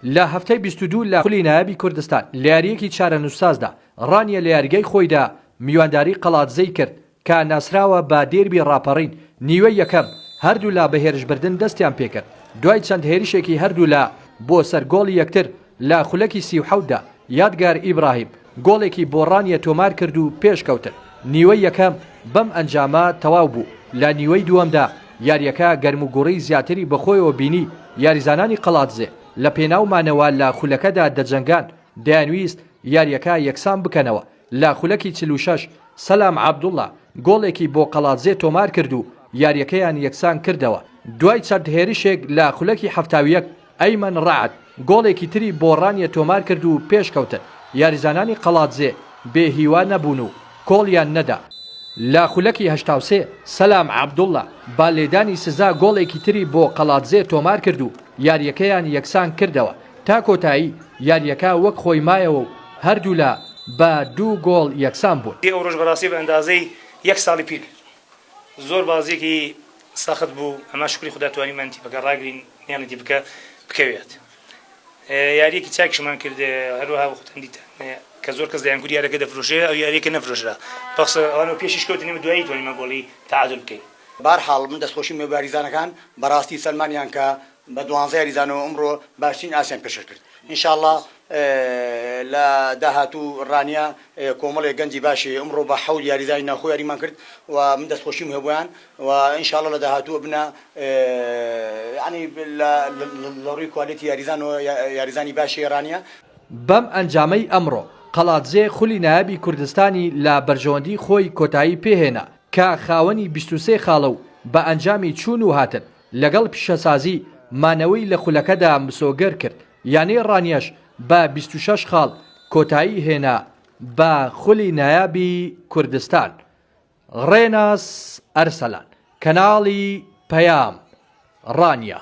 لە هەفتەی بیست و دوو لە خولی نایابی کوردستان لە یارییەکی چارەنووسسازدا، ڕانیە لە یاریگای خۆیدا میوانداری قەڵادزەی کرد، کە ناسراوە بە دێربی ڕاپەڕین، نیوەی یەکەم هەردوولا بە هێرشبردن دەستیان پێکرد، دوای چەند هێرشێکی هەردوولا بۆ سەر گۆڵی یەکتر لە خولەکی سی و حەوتدا، یادگار ئیبراهیم، گۆڵێکی بۆ ڕانیە تۆمارکرد و پێشکەوتن. نیوەی یەکەم بەم ئەنجامە تەواو بوو، لە نیوەی دووەمدا یارییەکە گەرموگوڕی زیاتری بەخۆیەوە بینی، یاریزانانی قەڵادزێ لە پێناو مانەوە لە خولەکەدا دەجەنگان، دەیانویست یارییەکە یەکسان بکەنەوە، لە خولەکی چل و شەش سەلام عەبدوڵا گۆڵێکی بۆ قەڵادزێ تۆمارکرد و یارییەکەیان یەکسان کردەوە، دوای چەند هێرشێک لە خولەکی حەفتا و یەک. ئەیمەن رەعد گۆڵێکی تری بۆ رانیە تۆمارکرد و پێشکەوتن، یاریزانانی قەڵادزێ بێ هیوا نەبوون و کۆڵیان نەدا، لە خولەکی هەشتا و سێ سەلام عەبدوڵا بە لێدانی سزا گۆڵێکی تری بۆ قەڵادزێ تۆمارکرد و یارییەکەیان یەکسانکردەوە، تا کۆتایی یارییەکە وەک خۆی مایەوە و هەردوولا بە دوو گۆڵ یەکسان بوون. ئەوڕۆش بەڕاستی بە ئەندازەی یەک ساڵی پیر زۆر بازیەکی سەخت بوو ئەما شوکری خودا توانیمان تیپەکە ڕاگرین مێڵی تیپکە بکەوێت یاریەکی چاکشمان کرد هەروەها وەختن دیتان کە زۆر کەس دەیانگوری یارەکە دەفرۆشێ ئەو یاریەکە نەفرۆشرا پخس ئەوانەوە پێشیش کەوتنی دوایی توانیمە گۆڵی تعادل بکەین بارحاڵ من دەستخۆشیم لە بارزانەکان بەڕاستی سەلمانیان کە بە دوانزە یاریزانەوە ئەمڕۆ باشترین ئاستیان پێشکەش کرد ان شاءاللە لە داهاتوو رانیە کۆمەڵێک گەنجی باشی ئەمڕۆ بە حەوت یاریزانی ناوخۆ یاریمان کرد و من دەستخۆشیم هەیە بۆیان و ان شاءاللە لە داهاتوو ئەبنە یانی لە ڕووی کوالێتی یاریزان و یاریزانی باشی رانیە. بەم ئەنجامەی ئەمڕۆ، قەڵادزێ خولی نایابی کوردستانی لە بەرژەوەندی خۆی کۆتایی پێهێنا، کە خاوەنی بیست و سێ خاڵە و بە ئەنجامی چوون و هاتن، لەگەڵ پیشەسازی مانەوەی لە خولەکەدا مسۆگەر کرد، یانەی ڕانیەش بە بیست و شەش خاڵ کۆتایی هێنا بە خولی نایابی کوردستان. ڕێناس ئەرسەلان، کەناڵی پەیام، ڕانیە.